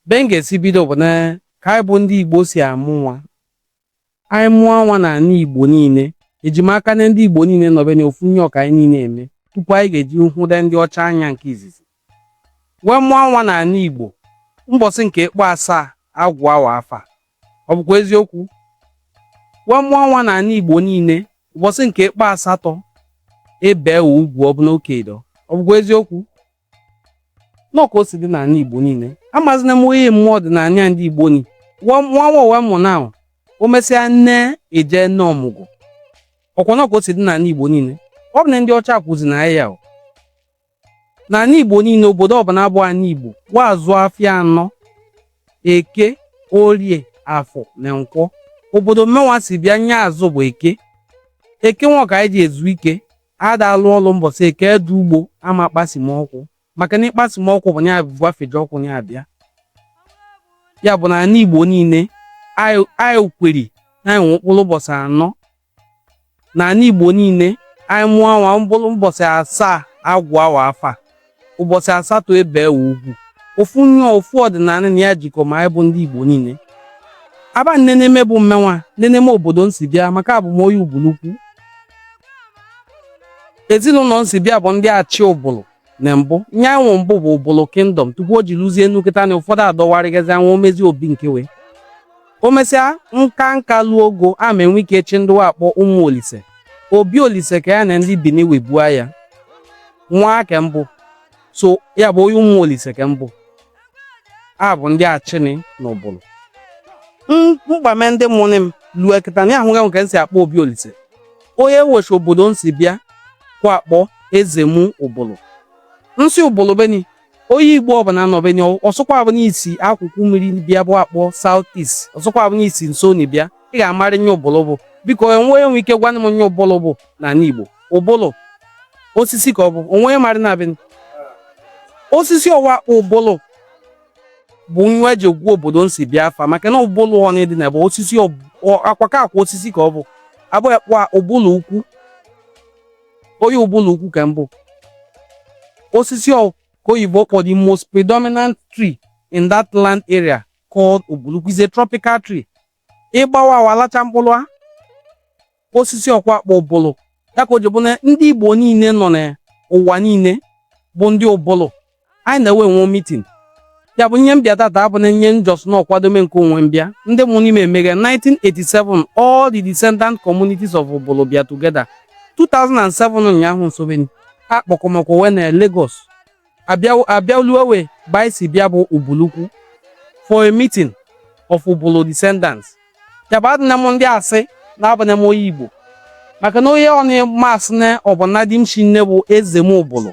Be m ga-esi bido bụ na ka anyị bụ ndị Igbo si amụ nwa. Anyị mụa nwa n'anị Igbo niile, eji m aka na ndị Igbo niile nọbe na ofu nye ọ ka anyị niile eme tupu anyị ga-eji hụde ndị ọcha anya nke izizi. Wee mụa nwa n'anị Igbo, mbọsị nke kpọ asaa a gụa wa afa. Ọ bụkwa eziokwu? Wee mụa nwa n'anị Igbo niile, ụbọsị nke kpọ asatọ e bee wa ugwu ọ bụ na okei dọ. Ọ bụkwa eziokwu? nọ ka o si dị n'anị Igbo niile amazina m onye mee ọdịnanị a ndị Igbo ni wa wee mụa nwa o mesịa nne eje nọ ọmụgwọ ọkwa nọ ka o si dị n'anị Igbo niile abụna ndị ọcha kuzini anyị ya o n'anị Igbo niile obodo ọbụna bụ anị Igbo wa azụ afịa anọ eke orie afọ na nkwọ obodo mmenwa si bịa nye azụ bụ eke eke nwa ka anyị ji ezu ike A da alụ ọlụ mbọsị eke dị ugbo a ma kpasime okwu maka na ị kpasime okwu bụ nye bụ afeji okwu ya abịa ya bụ na anị Igbo niile anyị kweri na anyị nwe mkpụlụ ụbọsị anọ na anị Igbo niile anyị mụa nwa mkpụlụ mbọsị asaa a gụa wa afa ụbọsị asatọ e bee wa ugwu ofu nye ọ ofu ọdịnanị na ya jikọ ma anyị bụ ndị Igbo niile aba nneneme bụ mmenwa nneneme obodo n si bịa maka abụ m onye Ubulukwu ezinụnọ n si bịa bụ ndị achị Ubulu na mbụ nye anyị nwe mbụ bụ Ubulu kingdom tupu o ji luzie na kịta na ụfọdụ adọwarịgazi onwe o mezi obi nkewe o mesịa nka nka luo ogo ama enwe ike echi ndị wa akpọ ụmụ Olise Obi Olise ka ya na ndị Bini wee bua aya nwa ke mbụ so ya bụ onye ụmụ Olise ka m bụ a bụ ndị achịnị na Ubulu mkpame ndị mụnị m lue kịta na ahụghị m ke n si akpọ Obi Olise onye wechi obodo n si bịa ka a kpọ Ezemu Ubulu n si Ubulu be ni Onye Igbo ọbụna nọ be ni ọ sọkwa abụ na i si akụkụ mmiri bịa bụ akpọ South East ọ sọkwa abụ na i si nso ni bịa ị ga-amarị nye Ubulu bụ biko onye nwe ike gwanụ m nye Ubulu bụ n'ala Igbo Ubulu osisi ka ọ bụ onye marị na be ni osisi ọwa Ubulu bụ nwa eji gụ obodo n si bịa afa maka na Ubulu ọnị dị na bụ osisi akwaka akwa osisi ka ọ bụ abụghị kpọ Ubulu ukwu Onye Ubulu ukwu ka m bụ. Osisi ọ ka oyibo kpọ the most predominant tree in that land area called Ubulukwu is a tropical tree. Ị gbawaa wa alacha mkpụlụ a. Osisi ọ ka wa akpọ Ubulu. Ya ka o ji bụ na ndị Igbo niile nọ n'ụwa niile bụ ndị Ubulu. anyị na-enwe enwe mitin ya bụ ihe m bịa tata abụ na nye just nọ kwadome nke onwe m bịa ndị mụ n'ime emeghe 1987 all the descendant communities of Ubulu bịa together 2007 ụnyaahụ nsobeni a kpọkọmakwa we na Lagos a bịa lue ebe anyị si bịa bụ Ubulukwu for a meeting of Ubulu descendants ya bụ adịna m ndị asị na abụna m onye Igbo maka na onye nị m asị na ọ bụ nna di m shinne bụ Ezemu Ubulu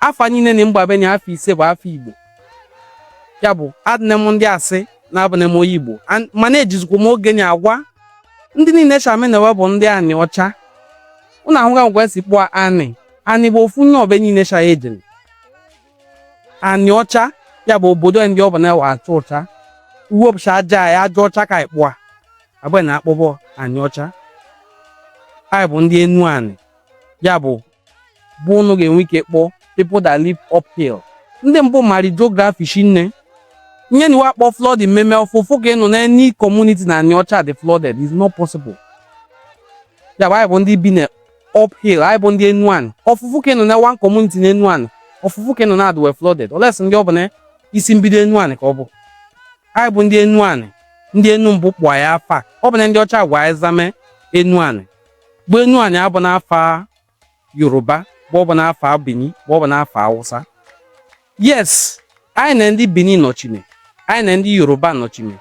afa niile na mgbabe na afa ise bụ afa Igbo ya bụ adịne m ndị asị na abụne m onye igbo mana ejizikwa m oge na agwa ndị niile shamenewe bụ ndị anị ọcha ụnụ ahụga ka e si kpọa anị anị bụ ofu nye ebe niile sha ejere anị ọcha ya bụ obodo ndị ọ bụ na ewe achụ ọcha e wepụcha aja ya aja ọcha ka anyị kpọa abụghị na akpọ bọ anị ọcha anyị bụ ndị enu anị ya bụ bụ ụnụ ga-enwe ike kpọọ people that live uphill ndị mbụ mari geography shinne nye nị we akpọ flooding mmemme ọ fụ ụfụ ka ị nụ na any community na anị ọcha dị flooded is not possible ya bụ anyị bụ ndị bi na uphill anyị bụ ndị enu anị ọ fụ ụfụ ka ị nụ na one community na enu anị ọ fụ ụfụ ka ị nụ na adịwe flooded unless ndị ọ bụ na isi mbido enu anị ka ọ bụ anyị bụ ndị enu anị ndị enu mbụ kpọọ ya afa ọ bụna ndị ọcha gwa anyị zame enu anị bụ enu anị abụna afa Yoruba ma ọ bụ n'afa benin ma ọ bụ n'afa awụsa yes anyị na ndị benin nọchime anyị na ndị yoruba nọchime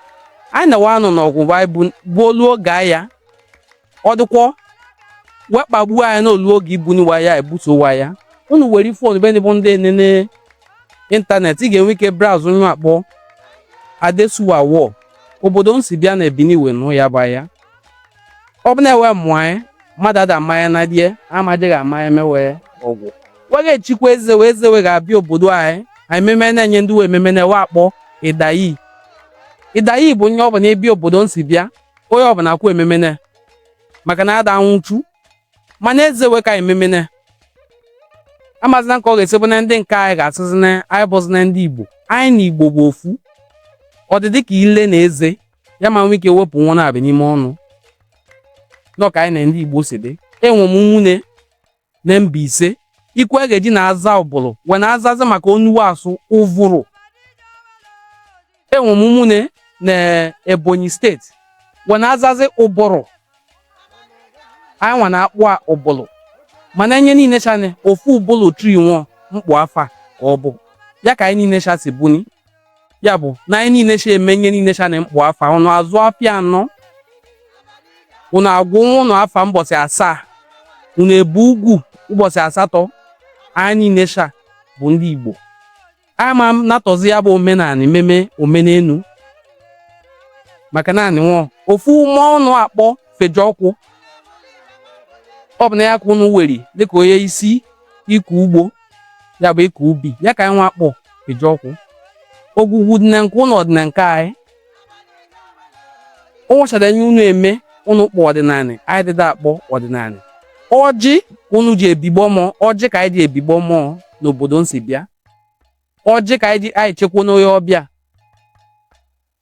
anyị na wa nụ ọgụ anyị gbuo olu oge aya ọ dịkwọ we kpagbuo anyị n'olu oge e buni wa aya e buso wa aya unu were fon be bụ ndị enene ịntanetị ị ga-enwe ike browse ihe a kpọ Adesuwa War obodo m si bịa na Bini wee nụ ya bụ aya ọ bụ na-ewe mụọ anyị mmadụ ada mmanya na die amadịghị amanya mewe ọgwụ we ga-echikwa eze we eze we ga-abịa obodo anyị anyị ememe na-enye ndụ we ememe nị we akpọ Idayi Idayi bụ onye ọbụla ebi obodo m si bịa onye ọbụla akwụ ememe na maka na ada anwụchu mana eze we ka ememe na amazina ka ọ ga-esi bụ na ndị nke anyị ga-asịzi na anyị abụzina ndị igbo anyị na igbo bụ ofu ọ dị dị ka ile na eze ya ma nwee ike wepụ wa na-ebi n'ime ọnụ nọ ka anyị na ndị Igbo si dị enwe m ụmụnne na Mbaise ikwe a ga-eji na-aza Ubulu we na-azazi maka onu we asụ Uvuru enwe m ụmụnne na Ebonyi steeti we na-azazi Uburu anyị nwa na-akpọa Ubulu mana nye niile sha na ofu Ubulu tree nwọ m kpọ afa ka ọ bụ ya ka anyị niile sha si buni ya bụ na anyị niile cha eme ihe niile cha na m kpọ afa ụnụ azụ afịa anọ ụnụ agụ ụmụ ụnụ afa mbọsị asaa ụnụ ebi ugwu ụbọchị asatọ anyị niile cha bụ ndị Igbo ama m natọzi ya bụ omenala ememe omenelu maka na e nwe ofu mmụọ ụnụ akpọ Fejiọkụ ọ bụ na ya ka ụnụ weri dịka onye isi ịkọ ugbo ya bụ ịkọ ubi ya ka anyị nwa akpọ Fejiọkụ ogwugwu dị na nke ụnụ ọ dị na nke anyị ụnwụchara nye unu eme unu kpọ ọdịnala anyị dịda akpọ ọdịnala ọjị ka unu ji ebigbọ mmụọ ọjị ka anyị ji ebigbọ mmụọ n'obodo m si bịa ọjị ka anyị ji anyị chekwanụ onye ọbịa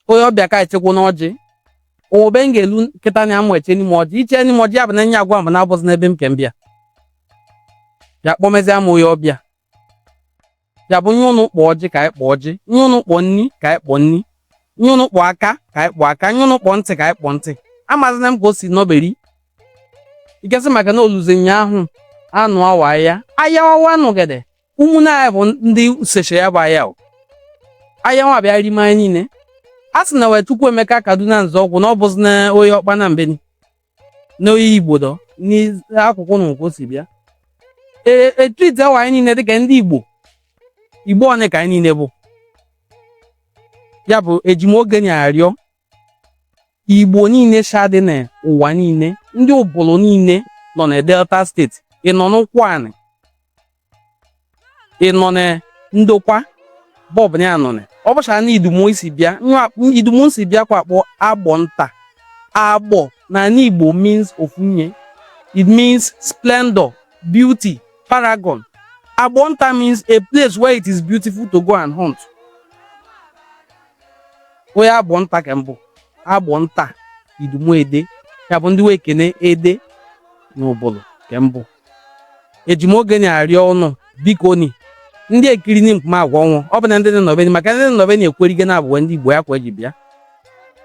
onye ọbịa ka echekwanụ ọjị obe m ga-elu kịta na a ma echeni m ọjị i cheni m ọjị ya bụ na nye agwa m bụ na abụzi n'ebe m ke m bịa ya kpọmezie m onye ọbịa ya bụ nye ụnụ kpọọ ọjị ka anyị kpọọ ọjị nye ụnụ kpọọ nni ka anyị kpọọ nni nye ụnụ kpọọ aka ka anyị kpọọ aka nye ụnụ kpọọ ntị ka anyị kpọọ ntị amazina m ka o si nọberi ikesị maka na oluzi ụnyaahụ anụ awa ya ayawawa nụgede ụmụnne anyị bụ ndị useche ya bụ aya aya nwa bịa rime anyị niile a sị na wee Chukwuemeka Kaduna Nzeọgwụ na ọ bụzi na onye Ọkpanam beni na onye Igbo dọ n'akụkụ na nke o si bịa etiti awa anyị niile dịka ndị Igbo Igbo one ka anyị niile bụ ya bụ eji m oge nị arịọ Igbo niile sha dị na ụwa niile, ndị Ubulu niile nọ na Delta State, ị nọ n'Ụkwụanị, ị nọ na Ndokwa ebe ọbụna ị nọ na ọ bụcha na idumu m si bịa nwa idumu m si bịa ka wa akpọ agbọ nta agbọ na Igbo means ofunye it means splendor beauty paragon agbọ nta means a place where it is beautiful to go and hunt onye agbọ nta ka m bụ agbọ nta idumu ede ya bụ ndị wee kene ede na Ubulu ka m bụ eji m oge nị arịọ ụnụ biko ni ndị ekiri ni mkpuma agwa ọnwụ ọ bụ na ndị nọ ebe ni maka ndị nọ ebe ni ekwerigo na a bụ wa ndị Igbo ya kwa eji bịa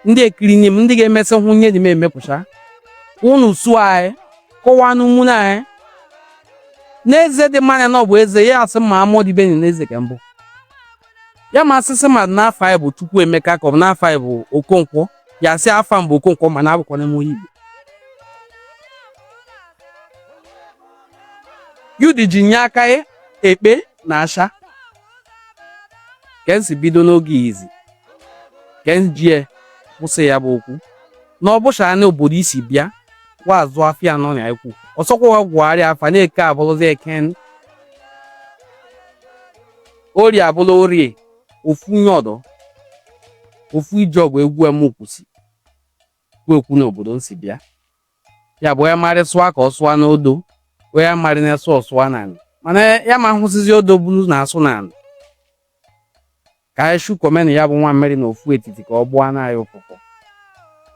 ndị ekiri ni m ndị ga-emesị hụ nye dị m emepụcha ụnụ su anyị kọwaa ni ụmụnne anyị n'eze dị mma mana ọ bụ eze ya asị ma amụọ dibeni n'eze ka m bụ ya ma asịsị mmadụ n'afa ị bụ Chukwuemeka ka ọ bụ n'afa ị bụ Okonkwo ya sị afa m bụ Okonkwo mana abụkwana m onye Igbo yudi ji nye aka ya ekpe na asha ka m si bido n'oge izi ka m ji ekwusi ya bụ okwu na ọ bụcha na obodo i si bịa wa azụ afịa anọ na ekwu ọsọkwa gwagharịa afa na Eke abụrụzi eken Orie abụla orie, ofu nye ọdọ, ofu ije ọgụ egwu m kwusi kwu ekwu n'obodo m si bịa. Ya bụ onye marị sụa ka ọ sụa n'odo, onye marị na-esụ ọ sụa n'anị. Mana ya ma hụsịzi odo bulu na-asụ n'anị. Ka anyị shukọmenụ ya bụ nwamịrị na ofu etiti ka ọ gbọọ na anyị ụfụfụ.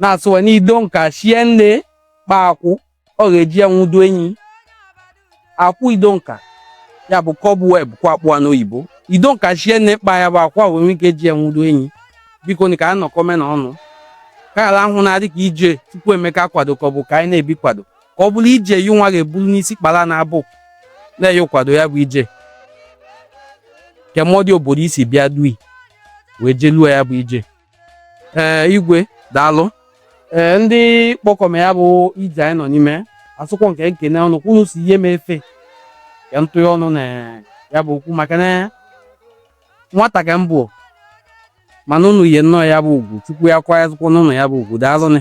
Na-asụwa n'ido nka shie nne kpa akwụ ọ ga-eji ya nwudo enyi akwụ ido nka ya bụ cobweb ka a kpọ ya n'oyibo ido nka shie nne kpa ya bụ akwa wee nwee ike ji ya nwudo enyi biko ni ka anyị nọkọmenụ ọnụ ka ghara ahụ na adị ka ije Chukwuemeka kwado ka ọ bụ ka anyị na-ebi kwado ka ọ bụrụ ije yi nwa ga-eburu n'isi kpara na abụ na-eyi kwado ya bụ ije kemọdị obodo i si bịa dui wee jeluo ya bụ ije ee igwe daalụ ee ndị kpọkọme ya bụ ije anyị nọ n'ime asụkwọ ka m kene unu kwụrụ si ihe m efe ka m tụye ọnụ na ya bụ okwu maka na nwata ka m bụ mana unu nye nnọọ ya bụ ugwu Chukwu ya kwanyezụkwọ unu ya bụ ugwu daalụ nị